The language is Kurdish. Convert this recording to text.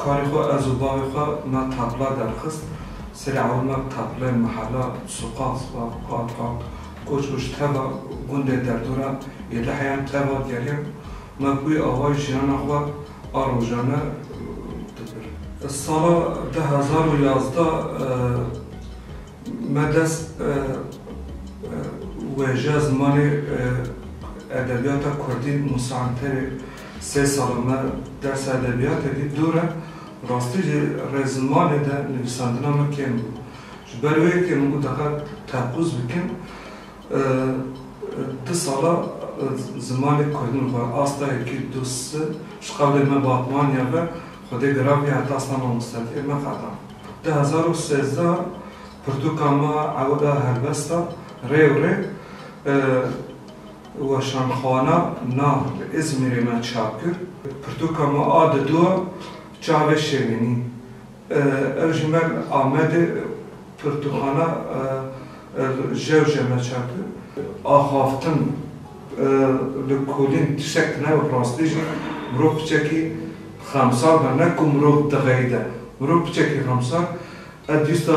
Karê xwe ez û bavê xwe na tabla derxist. Serê ewlma tablayê Mehala Suqas va Qat hat koç û ji teva gundê derdora yê Liheyan teva geriyan. Me bi wî awayî jiyana xwe a rojane dibir. Sala du hezar û yazdeh me dest wêjeya zimanê edebiyata kurdî Musa Enterê Sê sal e me dersa edebiyatê dît dûr e, rastî jî rê zimanê de nivîsandina min kêm bû. Ji ber wê yekê min got diqet teqûz bikim du sala zimanê kurdî min xwe asta yekî du si ji qewlê me Batmaniya ve xwedê giraviye heta asta mamostetiyê me qeda. Du hezar û sêzdeh pirtûka me a ewil a helbest a rê û rê Weşanxana na li Îzmîrê me çap kir. Pirtûka me a di dûa çavê şevînî. Ew ji me li Amedê pirtûkxana Jewje me çap kir. Axaftin li kulîn tiştek tune bi rastî jî mirov piçekî xemsar be ne ku mirov dixeyde. Mirov piçekî xemsar e dîsta